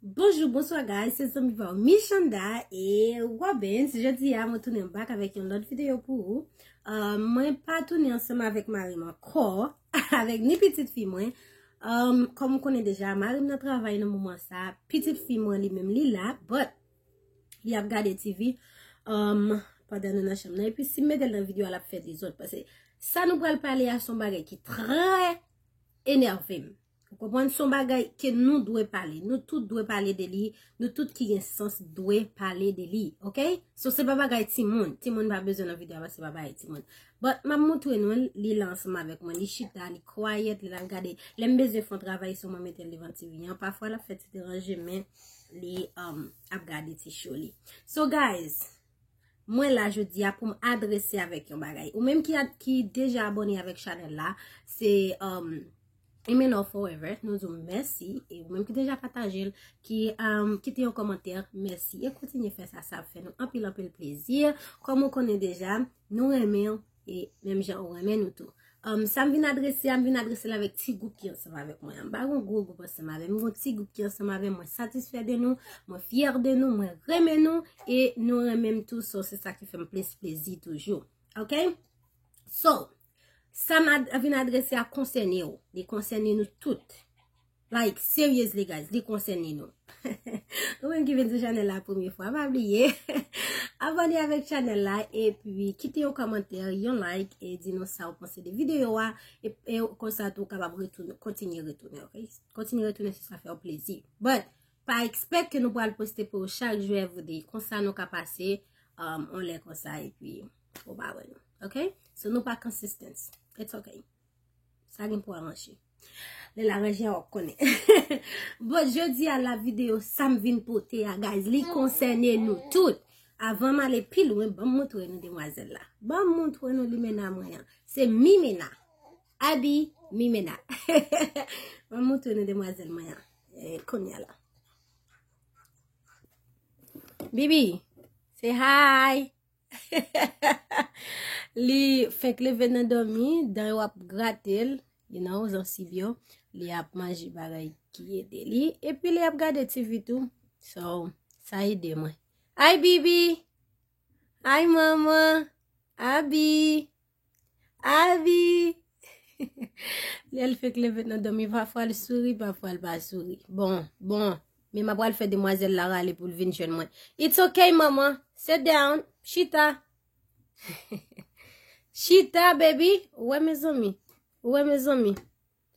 Bonjou, bonswa guys, se zanmi pa ou Michanda e Robens Jodi a mwen tounen bak avèk yon lòt videyo pou ou euh, Mwen pa tounen ansèm avèk marim ankò Avèk ni pitit fi mwen euh, Kòm ou konen deja, marim nan travay nan moman sa Pitit fi mwen li menm li la, but Li ap gade TV euh, Padan nou nan chanm nan, epi si m metel nan videyo alap fè dezòd Pase sa nou pral pale a son bagay ki trè Enervem Ou konprann? Son bagay ke nou dwe pale. Nou tout dwe pale de li. Nou tout ki gen sans dwe pale de li. Ok? So se pa bagay ti moun. Ti moun pa bezwen nan video a paske se pa bagay ti moun. But map moutre nou l. Li la ansanm avèk mwen. Li chita, li quiet, li la gade. Lèm bezwen fon travay sou mwen metel devan TV an. Pafwa lap fè ti deranje men li ap gade ti show li. So guys. Mwen la jodi a pou m adrese avèk yon bagay. Ou menm ki deja abone avèk chanèl la, se um, Imenor Forever, nou di w mèsi. E ou menm ki deja pataje l, ki um, kite yon komantè, mèsi. E kontinye fè sa, sa fè nou anpil anpil plezi. Kòm ou konnen deja, nou renmen E menm jan ou renmen nou tou. Um, sa m vin adrese a, m vin adrese l avèk ti gwoup ki ansanm avèk mwen. M pa gon gwo gwoup ansanm avèk mwen, m gon ti gwoup ki ansanm avèk mwen. Mwen satisfè de nou, mwen fyè de nou, mwen renmen nou, e nou renmen m tou, so se sa ki fè m plis plezi toujou. Ok? So, sa m vin adrese a konsène ou, li konsène nou tout. Like seriously guys li konsène nou. Ou menm ki vin sou chanèl la premye fwa pa bliye Abòne avèk chanèl la epi kite yon kòmantè yon like e di nou sa ou panse de videyo a e konsa tou kapab retounen kontinye retounen ok kontinye retounen se sa fè ou plezi but pa ekspèt ke nou pral poste pou ou chak jou evriday konsa nou ka pase um, on lè konsa epi ou pa wè nou ok so nou pa consistence it's ok sa gen pou avanche Lè la ranje a wap konnen. Bon, jodi a la video sa m vin pote a guys, li konsène nou tout. Avan m ale pi lwen, ban m montre nou demwazèl la. Ban m montre nou limena mwen an. Se mimena. Abi mimena. Ban m montre nou demwazèl mwen an. E konya la. Bibi, say hi. Li fenk leve nan domi, dan yo ap gratel, you know, zansib yo, li ap manje bagay ki ede li, epi li ap gade TV tou, so, sa ede mwen. Hi Bibi! Hi Mama! Abi! Avi! Lè l fèk leve nan dòmi, pafwa l souri, pafwa l pa souri. Bon, bon, men m apral fè demwazèl la rale pou l vin jwenn mwen. It's ok, manman. Sit down. Chita. Chita, baby. Ou wè mezanmi? Ou wè mezanmi?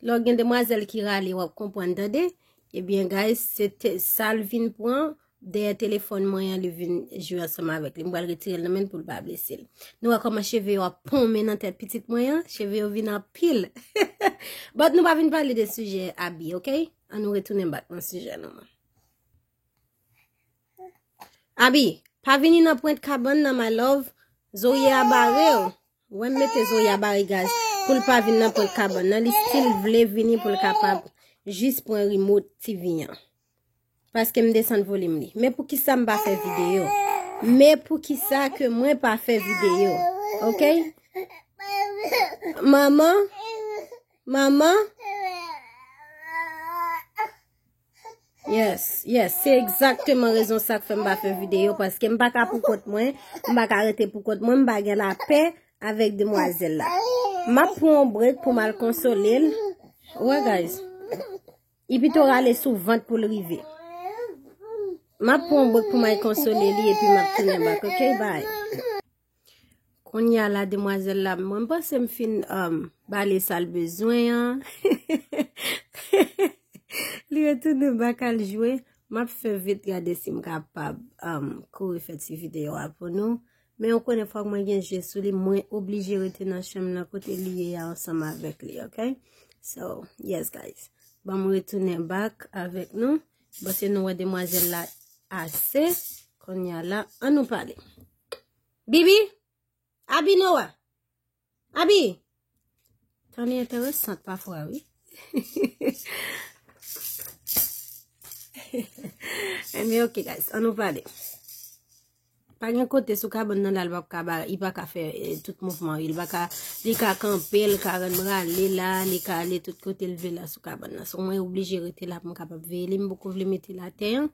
Lè w gen demwazèl ki rale wap konprann tande, ebyen guys se te sa l vin pran dèyè telefòn mwen an li vin jwe ansanm avèk li m pral retire l nan men l pou l pa blese l. Nou wè kòman cheve yo ap ponmen nan tèt pitit mwen an, cheve yo vin anpil but nou pa vin pale de sijè abi ok an nou retounen bak nan sijè nou an. Abi, pa vini nan pwent kabann nan my love, zorye a bare w. Wèm mete zoya barigaz poul pa vin nan prank kabann nan li stil vle vini poul kapab jis pran rimot TV an paske m desann volim li men poukisa m pa fè video men poukisa ke mwen pa fè video ok manman manman. Yes, yes, se egzakteman rezon sa k fè m pa fè videyo, paske m pa ka pou kont mwen, m pa ka rete pou kont mwen, m pa gen lapè avèk demwazèl la. M ap pran yon brek pou m al konsole l. Wè guys, li pito rale sou vant pou l rive. M ap pran yon brek pou m al konsole li epi m ap tounen bak, ok, bye. Konya la demwazèl la, mwen panse m fin um, bale sal bezwen an. Li retounen bak al jwe. Map fè vit gade si m kapab um, kouri fè ti videyo a pou nou. Men ou konen fòk mwen gen je sou li, mwen oblije rete nan chanm nan kote li ye ya ansanm avèk li, ok? So, yes guys. Ban mwen retounen bak avèk nou. Bose nou wè demwazèl la ase. Konya la, an nou pale. Bibi? Abi nou wè? Abi? Tan li enteresant pa fwa wè. E mi ok guys, an nou pale. Pa gen kote sou ka bon nan lal wap ka ba, i pa ka fè eh, tout mouvman wè. Li ka kanpe, li ka ren mra li la, li ka ale tout kote li vè la sou ka bon nan. Sou mwen oblije rete la pou m kapap veye li, m boko vle mete la ten.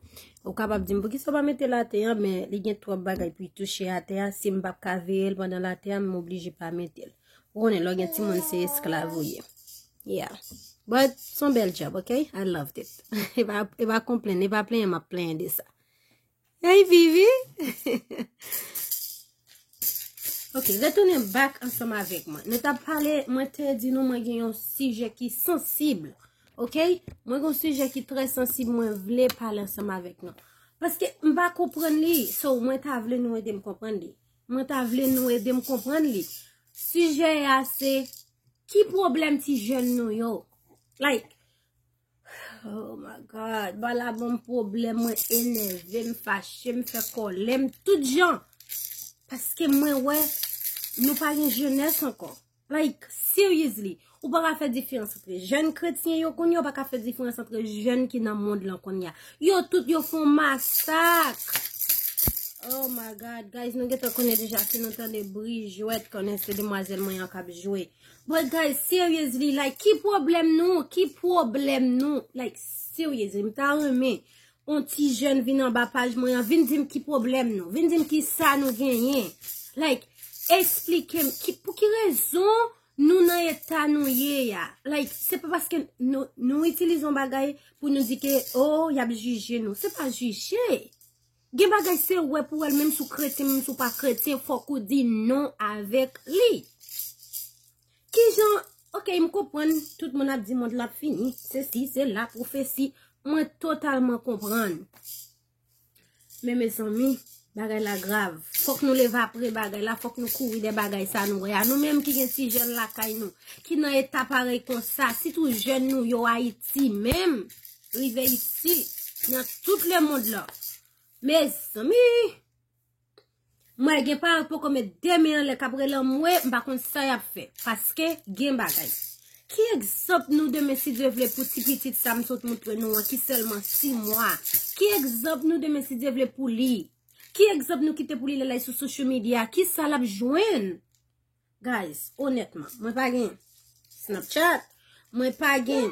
Ou kapab dim poukisa ou pa mete late an men li gen twòp bagay pou y touche atè a si m pap ka veye l pandan late a m oblije pa mete l. Ou konnen lò gen ti moun se esklav ou ye. Yeah. But son bel job, ok? I loved it. e pa e pa komplen, e pa plenyen map plenyen de sa. Hey Vivi! ok, retounen bak ansanm avèk mwen. Nou tap pale, mwen te di nou mwen gen yon sijè ki sansib. Ok mwen gon sijè ki trè sansib mwen vle pale ansanm avèk nou. Paske m pa konprann li. So mwen ta vle nou edem konprann li. Mwen ta vle nou edem konprann li. Sijè a se ki pwoblèm ti jèn nou yo. Like oh my god ba la banm pwoblèm mwen enève m fache m fè kòlè m tout jan. Paske mwen wè nou pa gen jenès ankò. Like, seriously! Ou pa ka fè diferans antre jèn kretyen yo kounye, ou pa ka fè diferans antre jèn ki nan mond lan kounye. Yo tout yo fon masak! Oh my God! Guys, nou gen tan konnen deja si nou tande bri jwèt konnen se demwazèl mwen an kap jwe. But guys, seriously, like, ki pwoblèm nou? Ki pwoblèm nou? Like, seriously, m ta renmen On ti jèn vin anba paj mwen an, vin dim ki pwoblèm nou, vin dim ki sa nou genyen. Like, esplike m, pou ki rezon nou nan eta nou ye ya. Like, se pa paske nou itilize yon bagay pou nou di ke, oh, y ap jije nou. Se pa jije. Gen bagay se wè pou wè l, menm si w kretyen, menm si w pa kretyen, fòk ou di non avèk li. Kijan ok m konprann tout moun ap di mond la ap fini sesi sela profesi mwen totalman konprann men mezanmi bagay la grav fòk nou leve apre bagay la fòk nou kouri dè bagay sa nou wè a nou menm ki gen ti jèn lakay nou ki nan eta parèy konsa sitou jèn nou yo ayiti menm rive isi nan tout le mond la mezanmi. M wè gen pa yo k poko met 2 men anlè k ap rele anmwe, m pa konn sa y ap fè paske gen bagay. Ki egzanp nou demen si Dye vle pou ti pitit sa m sot montre nou an ki sèlman 6 mwa? Ki egzanp nou demen si Dye vle pou li? Ki egzanp nou kite pou li lè l al sou social media? Ki sa l ap jwenn? Guys onètman mwen pa gen Snapchat mwen pa gen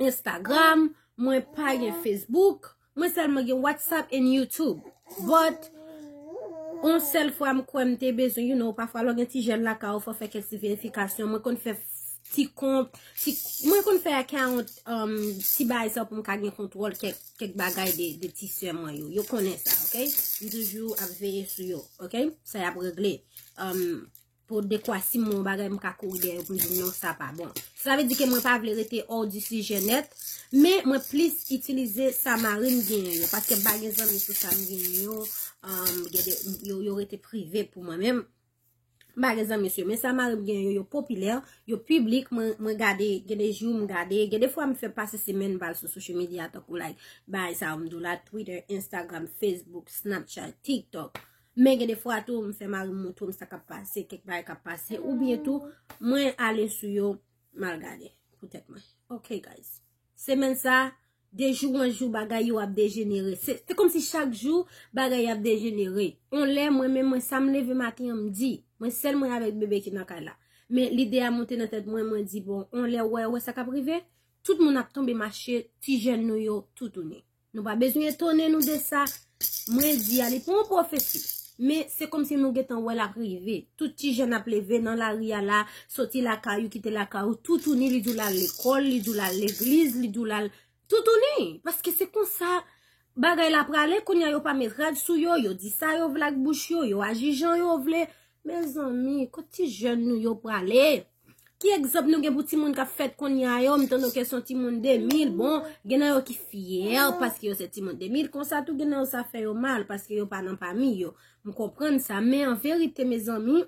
Instagram mwen pa gen Facebook mwen sèlman gen WhatsApp and YouTube but on sèl fwa m kwè m te bezwen you know pafwa lò gen ti jèn lakay ou fò fè kèk ti verifikasyon mwen konn fè ti kont mwen konn fè account ti bay sa pou m ka gen kontwòl kèk bagay de ti sè mwen yo yo konnen sa ok m toujou ap veye sou yo ok sa y ap regle. pou dekwa si mwen bagay mwen ka kouri deyè pou di non sa pa bon. Sa ve di ke mwen pa vle rete or di si jenet, men mwen plis itilize sa marim genyen yo, paske m bagen zan mwen se sa m genyen yo, yo rete prive pou mwen menm. Bagen zan mwen se, men sa marim genyen yo, yo popilè, yo publik, mwen gade, gen de jou m gade, gen de fwa m fè pase se men bal sou social media, tok ou like, bay sa ou m do la, Twitter, Instagram, Facebook, Snapchat, TikTok. Men gen defwa tou m fè mari m montre m sa k ap pase, kèk bagay k ap pase, oubyen tou mwen ale sou yo m al gade pou tèt mwen. Ok guys. Semèn sa, de jou an jou bagay yo ap dejenere. Se kòm si chak jou bagay ap dejenere. On lè mwen menm mwen sa m leve maten an m di, mwen sèl mwen avèk bebe ki nan kay la. Men lide a monte nan tèt mwen, mwen di bon, on lè wè wè sa k ap rive, tout moun ap tonbe mache, ti jèn nou yo toutouni. Nou pa bezwen etone nou de sa mwen di a, li pa yon pwofesi. Men, se kòm si nou gentan wè l ap rive. Tout ti jèn ap leve nan lari a la, soti lakay ou, kite lakay ou, toutouni li di w l al lekòl, li di w l al legliz, li di w l al toutouni. Paske se konsa bagay la prale, kounye a yo pa met rad sou yo, yo di sa yo vle ak bouch yo, yo aji jan yo vle. Mezanmi, kot ti jèn nou yo prale? Ki egzanp nou gen pou timoun k ap fèt kounye a yo? M tande ke son timoun 2000, bon, gen nan yo ki fyè paske yo se timoun 2000, konsa tou gen nan yo sa fè yo mal paske yo pa nan pami yo. M konprann sa, men an verite mezanmi,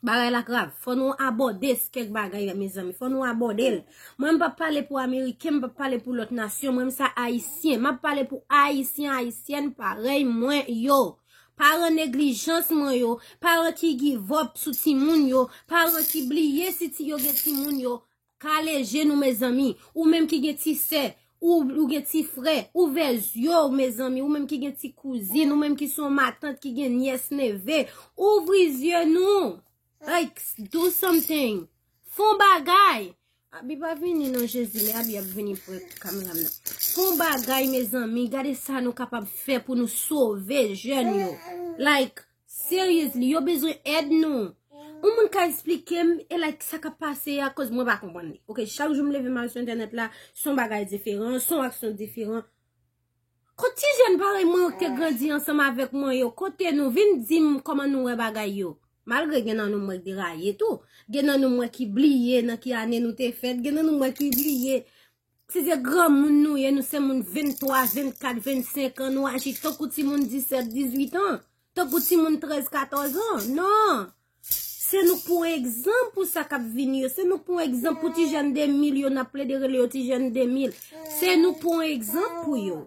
bagay la grav. Fò nou abòde kèk bagay la mezanmi, fò nou abòde l. Mwen m pa pale pou Ameriken, m pa pale pou lòt nasyon, mwen m sa Ayisyen. M ap pale pou Ayisyen, Ayisyèn parèy mwen yo. Paran neglijans mwen yo, paran ki givòp sou timoun yo, paran ki bliye si ti yo gen timoun yo, kale je nou mezanmi, ou menm ki gen ti sè, ou gen ti frè, ouvè zye w mezanmi, ou menm ki gen ti kouzin, ou menm ki son matant ki gen nyès neve, ouvri zye nou! Like do something fon bagay. Abi pa vini non jezi me abi ap vini pre kameram nan. Fon bagay mezanmi gade sa nou kapab fe pou nou sove jen yo. Like seriously yo bezwen ed nou. Ou moun ka esplike m e like sa kap pase ya koz mwen pa konprann li. Ok chak jou m leve m al sou entenet la son bagay diferan son aksyon diferan. Kot ti jèn parèy mwen yo ki te grandi ansanm avèk mwen yo, kote nou, vin di m kòman nou wè bagay yo. Malgre gen nan nou mwen k deraye tou, gen nan nou mwen ki bliye nan ki ane nou te fèt, gen nan nou mwen ki bliye si se granmoun nou ye, nou se moun 23, 24, 25 an, nou aji tankou timoun 17, 18 an. Tankou timoun 13, 14 an. Non! Se nou k pou egzanp pou sa k ap vini yo. Se nou k pou egzanp pou ti jèn 2000 yo n ap plede rele yo ti jèn 2000. Se nou k pou egzanp pou yo.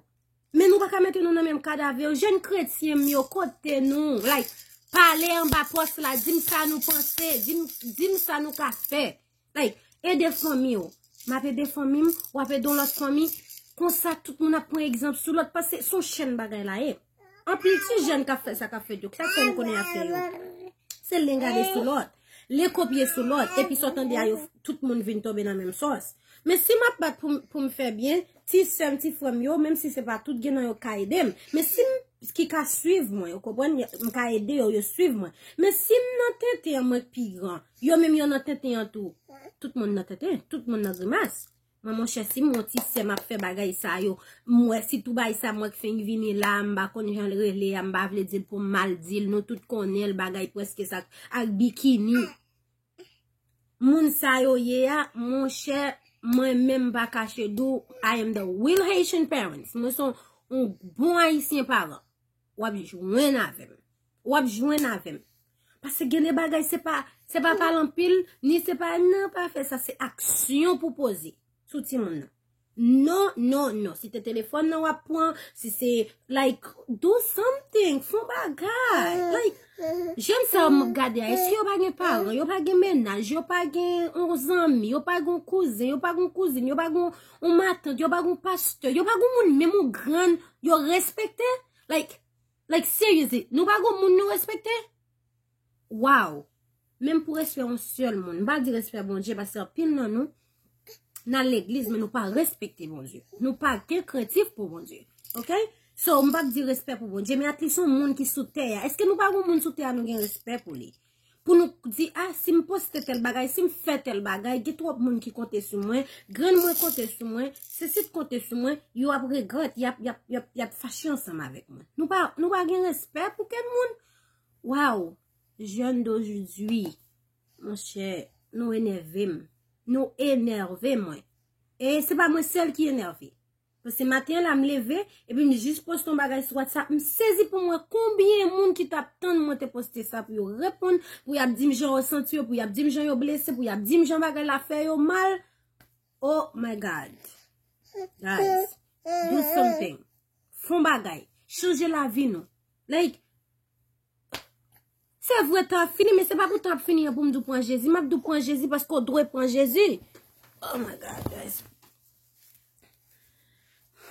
Men nou pa ka mete nou nan menm kad avè yo. Jèn kretyen m yo, kote nou? Like, pale anba pòs la, di m sa nou panse, di m sa nou ka fè. Like, ede fanmi w. M ap ede fanmi m, w ap ede yon lòt fanmi. Konsa tout moun ap pran egzanp sou lòt paske s on chèn bagay la ye. Anpil ti jèn k ap fè sa k ap fèt yo, ki sa k fè nou konnen y ap fè yo? Se len gade sou lòt, len kopye sou lòt, epi sa w tande a yo tout moun vin tonbe nan menm sòs. Men si m ap bat pou m fè byen, ti sè m, ti frè m yo, menm si se pa tout, gen nan yo k ka ede m. Men si m, ki ka suiv mwen, ou konprann, m ka ede yo, yo suiv mwen. Men si m nan tenten an mwen k pi gran. Yo menm yo nan tenten an tou. Tout moun nan tenten, tout moun nan grimas. Mwen monchè si mwen ti sè map fè bagay sa yo. Mwen si tou bay sa mwen k fenk vini la, m pa konn jan l rele a, m pa vle dil pou m mal dil. Nou tout konnen l bagay preske sa ak bikini. Moun sa yo ye a, monchè mwen menm pa kache di w, I am the real Haitian parents. Mwen son yon bon ayisyen paran. Wap jwenn avèm. Wap jwenn avèm. Pase gen de bagay se pa se pa pale anpil ni se pa nan pa fè sa se aksyon pou poze sou ti moun nan. Non, non, non. Si te telefòn nan wap pran, si se like do something, fon bagay. Like, jèn sa wap gade a, eske yo pa gen paran, yo pa gen menaj, yo pa gen yon zanmi, yo pa gen yon kouzen, yo pa gen yon kouzin, yo pa gen yon matant, yo pa gen yon pastè, yo pa gen yon moun menm yon grann yo respekte? Like, like seriously, nou pa gen yon moun nou respekte? Waw, menm pou respè yon sèl moun, m pa di respè Bondye paske anpil nan nou nan legliz men nou pa respekte Bondye. Nou pa gen krentif pou Bondye. Ok? So, m pa di respè pou Bondye, men at least yon moun ki sou tè a. Eske nou pa gen yon moun sou tè a nou gen respè pou li? Pou nou k di a, si m poste tèl bagay, si m fè tèl bagay, gen twòp moun ki konte sou mwen, grann mwen konte sou mwen, Cécit konte sou mwen, yo ap regrèt, y ap fache ansanm avèk mwen. Nou pa gen respè pou kenn moun. Waww, jèn dojidui, monchè, nou enève m. Nou enève mwen. E se pa mwen sèl ki enève. Pase maten an la m leve, epi m jis poste yon bagay sou WhatsApp, m sezi pou m wè konbyen moun ki t ap tann mwen te poste sa pou yo reponn, pou y ap di m jan yo santi yo, pou y ap di m jan yo blese, pou y ap di m jan bagay la fè yo mal. Oh my God! Guys, do something! Fon bagay! Chanje lavi nou! Like! Se vre tan ap fini men se pa pou tan ap fini an pou m di w pran Jezi. M ap di w pran Jezi paske w dwe pran Jezi. Oh my God guys.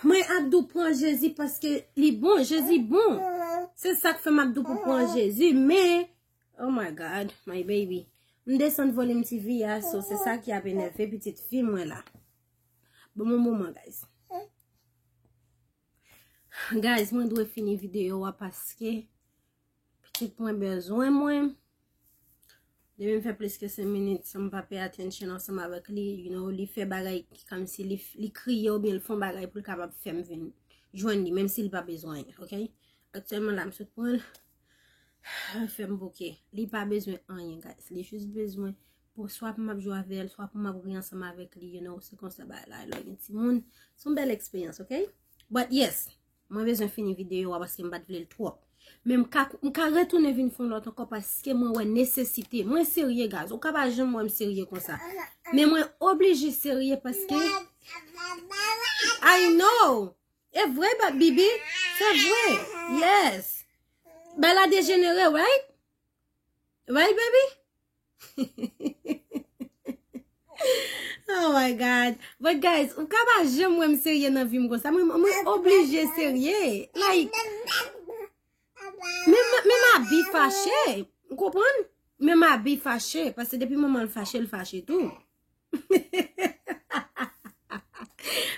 Mwen ap di w pran Jezi paske li bon. Jezi bon. Se sa k fè m ap di w pou pran Jezi. Men, oh my God, my baby. M desann volim ti vi a so se sa ki ap enève pitit fi mwen la. Bon mou mouman guys. Guys mwen dwe fini video a paske. Pitit mwen bezwen mwen. Depi m fè plis ke 5 minit san m pa pay attention ansanm avèk li, you know, li fè bagay ki kòmsi li kriye oubyen li fè yon bagay pou l kapab fè m vin jwenn li, menm si li pa bezwen, ok. Aktyèlman la m sot pran l, li fè m bouke. Li pa bezwen anyen guys, li jis bezwen pou swa pou m ap jwe avè l, swa pou m ap ri ansanm avèk li, you know, se konsa bagay la ye lè w gen timoun. Se yon bèl eksperyans, ok. But yes! Mwen bezwen fini videyo a paske m pat vle l twòp. Men m ka retounen vin fè yon lòt ankò paske mwen wè nesesite. Mwen serye guys. Ou ka pa janm wè m serye konsa. Men mwen oblije serye paske I know! E vre Bibi? Se vre! Yes! Bella dejenere, right? Right baby? Oh my God But guys, ou ka pa jem wè m serye nan vi m konsa Mwen oblije serye Like Men ma bi fache Ou konprann? Men ma bi fache Pase depi manman l fache, l fache tou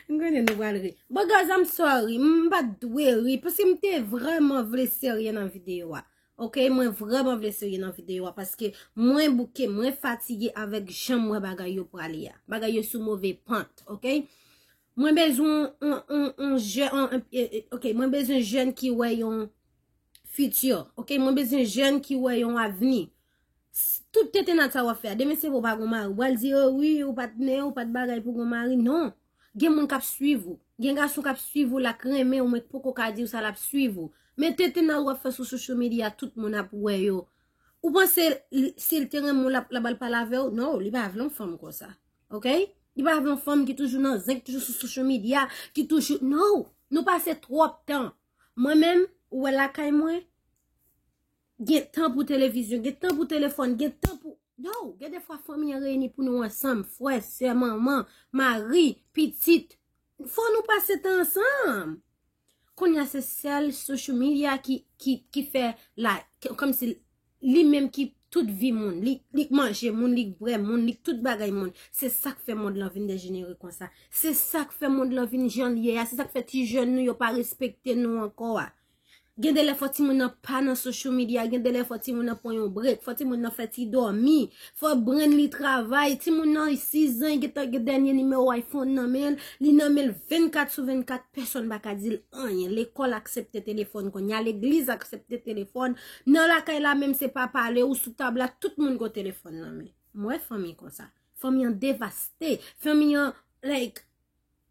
M konnen nou pral ri. Bon guys, I'm sorry. M pa dwe ri. Paske m te vreman vle serye nan videyo a. Ok, mwen vreman vle serye nan videyo a. Paske mwen bouke, mwen fatige avèk jan mwen bagay yo prale a. Bagay yo sou move pant. Ok, mwen bezwen yon jè. Ok, mwen bezwen jèn ki wè yon fiti. Ok, mwen bezwen jèn ki wè yon avni. Tout tetennad sa wap fè a, demen se vre ou pa gon mari, ou pral di yo wi ou pat men, ou pat bagay pou gon mari, non. Gen moun kap swiv ou, gen gason kap swiv ou la k renmen ou men k poko ka di ou sa lap swiv ou. Men tetennad wap fè sou social media tout moun ap wè yo. Ou panse sil te renmen w lap al pale avè w, non li pa vle yon fanm konsa. Ok, li pa vle yon fanm ki toujou nan zen, ki toujou sou social media, ki toujou, non. Nou pase twòp tan, mwen menm ou wè lakay mwen. Gen tan pou televizyon, gen tan pou telefòn, gen tan pou... No! Gen defwa fanmi an reyini pou nou ansanm, frè, sè, manman, mari, pitit. Fò nou pase tan ansanm! Kounya se sèl social media ki fè la... Kòm si li menm ki tout vi moun. Li k manje moun, li k bwè moun, li k tout bagay moun. Se sa k fè mond lan vin dejenere konsa. Se sa k fè mond lan vin jan l ye a. Se sa k fè ti jèn nou yo pa respekte nou ankò a. Gen de lè fò timoun nan pa nan social media, gen de lè fò timoun nan pran yon break, fò timoun nan fè ti dòmi, fò brenn li travay, timoun nan 6 zan gen tan gen dènye nimewo iPhone nan men l, li nan men l 24 sou 24, pèsòn pa ka di l anyen, lekòl aksepte telefòn kounye a, legliz aksepte telefòn, nan lakay la menm se pa pale ou sou tab la tout moun gen telefòn nan men. M wè fanmi konsa. Fanmi an devaste. Fanmi an like.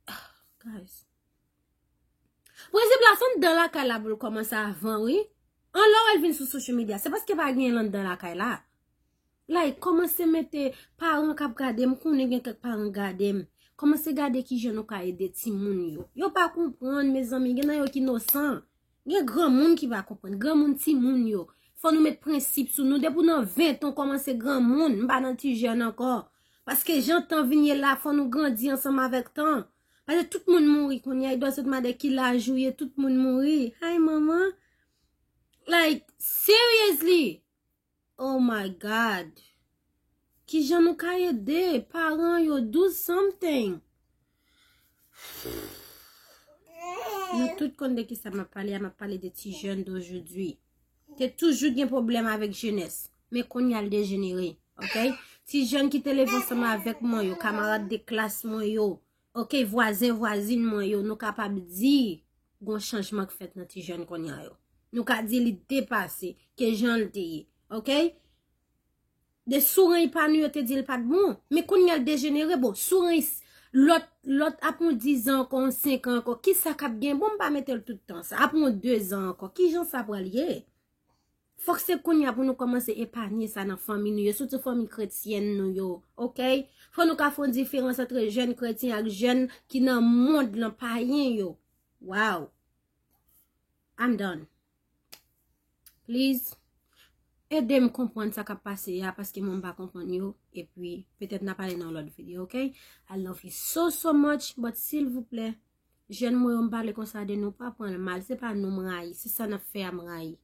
Ahh guys. Prensip la fanm dan lakay la pou l kòmanse avan wi. An lè ou wè l vin sou social media, se paske pa gen l anndan lakay la. Like, kòmanse mete paran k ap gade, m konnen gen kèk paran k gade m. Kòmanse gade ki jan nou ka ede timoun yo. Yo pa konprann mezanmi, gen nan yo ki nosan. Gen granmoun ki pa konprann, granmoun timoun yo. Fò nou met prensip sou nou, depi ou nan 20 an kòmanse granmoun, m pa nan ti jèn ankò. Paske jan tan vin ye la, fò nou grandi ansanm avèk tan. Pase tout moun mouri kounye a, idwa se te mande ki laj ou ye, tout moun mouri. Hay manman, like, seriously, oh my God, ki jan nou ka ede, paran yo, do something. Nou tout konn de ki sa ma pale, ma pale de ti jen do jodi. Te toujou gen pwoblèm avèk jenès, men kounye a l dejenere. Ok, ti jèn ki te leve ansanm avèk mwen yo, kamarad de klas mwen yo, ok, vwazen vwazin mwen yo, nou kapab di gon chanjman k fèt nan ti jèn kounye a yo. Nou ka di li depase ke jan l te ye. Ok. De soureny pa nou yo te dil pat bon. Men kounya l dejenere bon soureny lòt lòt ap pran 10 zan ankò 5 an ankò kisa kap gen bon m pa mete l tout tan sa ap pran 2 zan ankò kijan sa pral ye. Fòk se kounya pou nou kòmanse epanye sa nan fanmi nou yo sitou fanmi kretyèn nou yo ok fò nou ka fon diferans antre jèn kretyen ak jèn ki nan mond lan payen yo waw am done. Please, ede m konprann sa k ap pase a, paske mwen m pa konprann yo, epi petèt n ap pale nan yon lòt videyo, ok? I love you so so much, but silvouplè, jèn mwen yo m pale konsa de nou, pa pran l mal, se pa nou m rayi, se sa n ap fè a m rayi.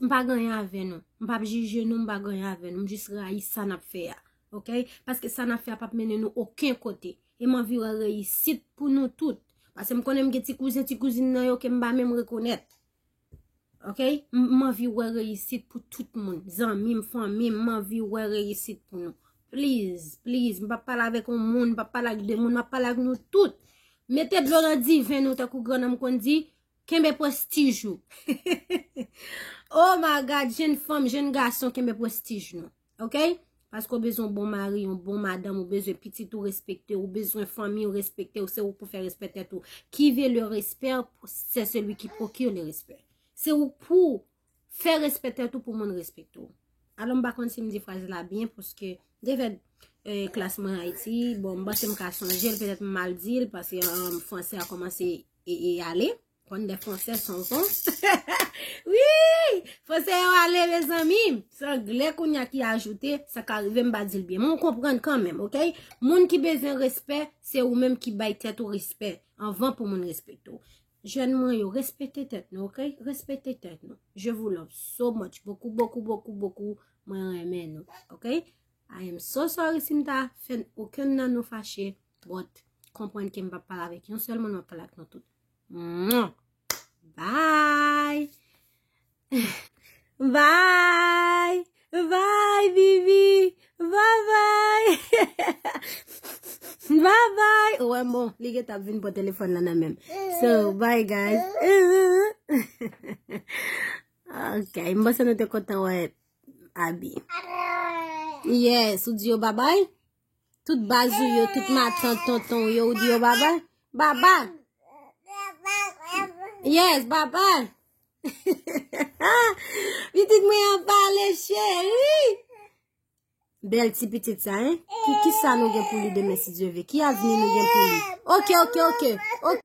M pa gen anyen avè nou, m pa ap jije nou, m pa gen anyen avè nou, m jis rayi sa n ap fè a, ok? Paske sa n ap fè a p ap mennen nou oken kote. E m anvi wè reyisit pou nou tout. Pase m konnen m gen ti kouzen, ti kouzin nan yo ke m pa menm rekonèt. Ok? M anvi wè reyisit pou tout moun. Zanmi m, fanmi m, m anvi wè reyisit pou nou. Please, please, m pa pale avèk yon moun, m pa pale ak 2 moun, m ap pale ak nou tout. Mete dlo nan diven nou tankou grannanm konn di, kenbe prestij ou. Oh my God, jenn fanm, jenn gason, kenbe prestij nou. Ok? Paske ou bezwen bon mari, yon bon madanm, ou bezwen pitit ou respekte, ou bezwen fanmi ou respekte, ou se ou pou fè respè tèt ou. Ki ve le respè, se se li ki pokir le respè. Se ou pou fè respè tèt ou pou moun respekte ou. Alon ba konn si m di fraz la byen, paske devè euh, klas mwen a iti, bon, m basen m ka sonjel, petèt m mal dil, paske an euh, franse a komanse e e ale. Ok? Konn de fransè son son. Wi! Fransè yo ale me zanmi. Se anglè koun ya ki ajoute. Sa ka rive m pa di l byen. Mwen konprann kan menm. Ok? Moun ki bezwen respè. Se ou menm ki bay tèt ou respè. Anvan pou moun respekte ou. Jèn mwen yo. Respekte tèt nou. Ok? Respekte tèt nou. Je vous love so much. Bokou, bokou, bokou, bokou. Mwen renmen nou. Ok? I am so sorry si m ta fè okenn nan nou fache. But, konprann ke m pa pale avèk yon sèl moun. Mwen pale ak nou tout. Mwah! Bye! Bye! Bye, Vivi! Bye bye! Bye bye! Ou wè bon, li gen tap vin pran telefòn la nan menm. So, bye guys! Ok, m panse nou te kontan wè Abi. Yes, ou di yo bye bye? Tout baz ou yo, tout matan, tonton ou yo, ou di yo baba? Baba! Yes, baba! Pitit mwen an pale, cheri! Bel ti pitit sa, hein? Ki sa nou gen pou li demen si Dieu veut? Ki avni nou gen pou li? Ok, ok, ok!